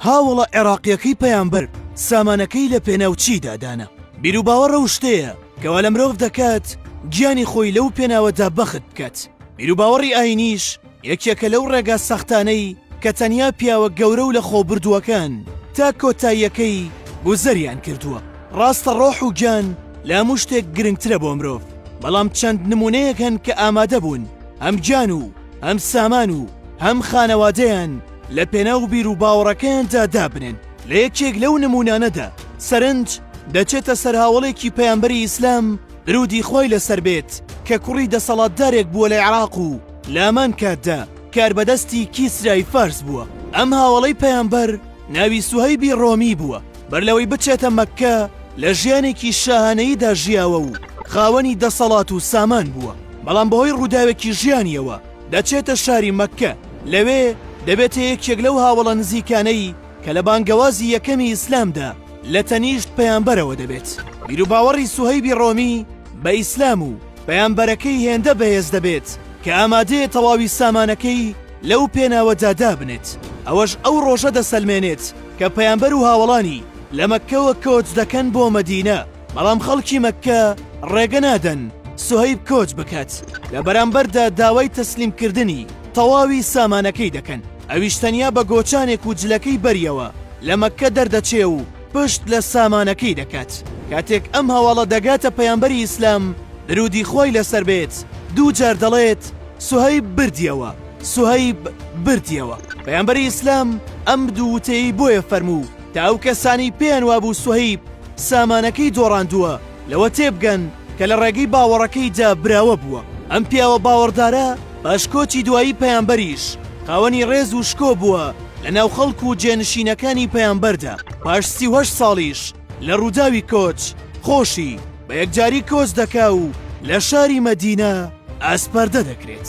هاوەڵە عێڕاقیەکەی پەیامبەر سامانەکەی لە پێناو چیدا دانا؟ بیروباوەڕ ئەو شتەیە کەوا لە مرۆڤ دەکات گیانی خۆی لەو پێناوەدا بەخت بکات. بیروباوەڕی ئاینیش یەکێکە لەو ڕێگا سەختانەی کە تەنیا پیاوە گەورە و لە خۆ بردووەکان تا کۆتاییەکەی گوزەریان کردووە. ڕاستە ڕۆح و گیان لە هەموو شتێک گرنگترە بۆ مرۆڤ، بەڵام چەند نموونەیەک هەن کە ئامادەبوون هەم گیان و هەم سامان و هەم خانەوادەیان، لە پێناو بیروباوەڕەکەیاندا دابنێن، لە یەکێک لەو نموونانەدا، سەرنج، دەچێتە سەر هاوەڵێکی پەیامبەری ئیسلام، درودی خوای لەسەر بێت، کە کوڕی دەسەڵاتدارێک بووە لە عێراق و لامان کاتدا کاربەدەستی کیسرای فارس بووە، ئەم هاوەڵەی پەیامبەر ناوی سوهەیبی ڕۆمی بووە، بەر لەوەی بچێتە مەککە لە ژیانێکی شاهانەییدا ژیاوە و خاوەنی دەسەڵات و سامان بووە، بەڵام بەهۆی ڕووداوێکی ژیانیەوە، دەچێتە شاری مەککە، لەوێ دەبێتە یەکێک لەو هاوەڵە نزیکانەی کە لە بانگەوازی یەکەمی ئیسلامدا لە تەنیشت پەیامبەرەوە دەبێت. بیروباوەڕی سوهەیبی ڕۆمی بە ئیسلام و پەیامبەرەکەی هێندە بەهێز دەبێت کە ئامادەیە تەواوی سامانەکەی لەو پێناوەدا دابنێت. ئەوەش ئەو ڕۆژە دەسەلمێنێت کە پەیامبەر و هاوەڵانی لە مەککەوە کۆچ دەکەن بۆ مەدینە. بەڵام خەڵکی مەککە ڕێگە نادەن سوهەیب کۆچ بکات، لە بەرامبەردا داوای تەسلیمکردنی تەواوی سامانەکەی دەکەن، ئەویش تەنیا بە گۆچانێک و جلەکەی بەریەوە لە مەککە دەردەچێ و پشت لە سامانەکەی دەکات، کاتێک ئەم هەواڵە دەگاتە پەیامبەری ئیسلام درودی خوای لەسەر بێت دوو جار دەڵێت سوهەیب بردیەوە، سوهەیب بردیەوە، پەیامبەری ئیسلام ئەم دوو وتەیەی بۆیە فەرموو تا ئەو کەسانەی پێیان وابوو سوهەیب سامانەکەی دۆڕاندووە، لەوە تێبگەن کە لە ڕێگەی باوەڕەکەیدا براوە بووە. ئەم پیاوە باوەڕدارە پاش کۆچی دوایی پەیامبەریش خاوەنی ڕێز و شکۆ بووە لە ناو خەڵک و جێنشینەکانی پەیامبەردا. پاش سی و هەشت ساڵیش لە ڕووداوی کۆچ، خۆشی بە یەکجاری کۆچ دەکا و لە شاری مەدینە ئاسپەردە دەکرێت.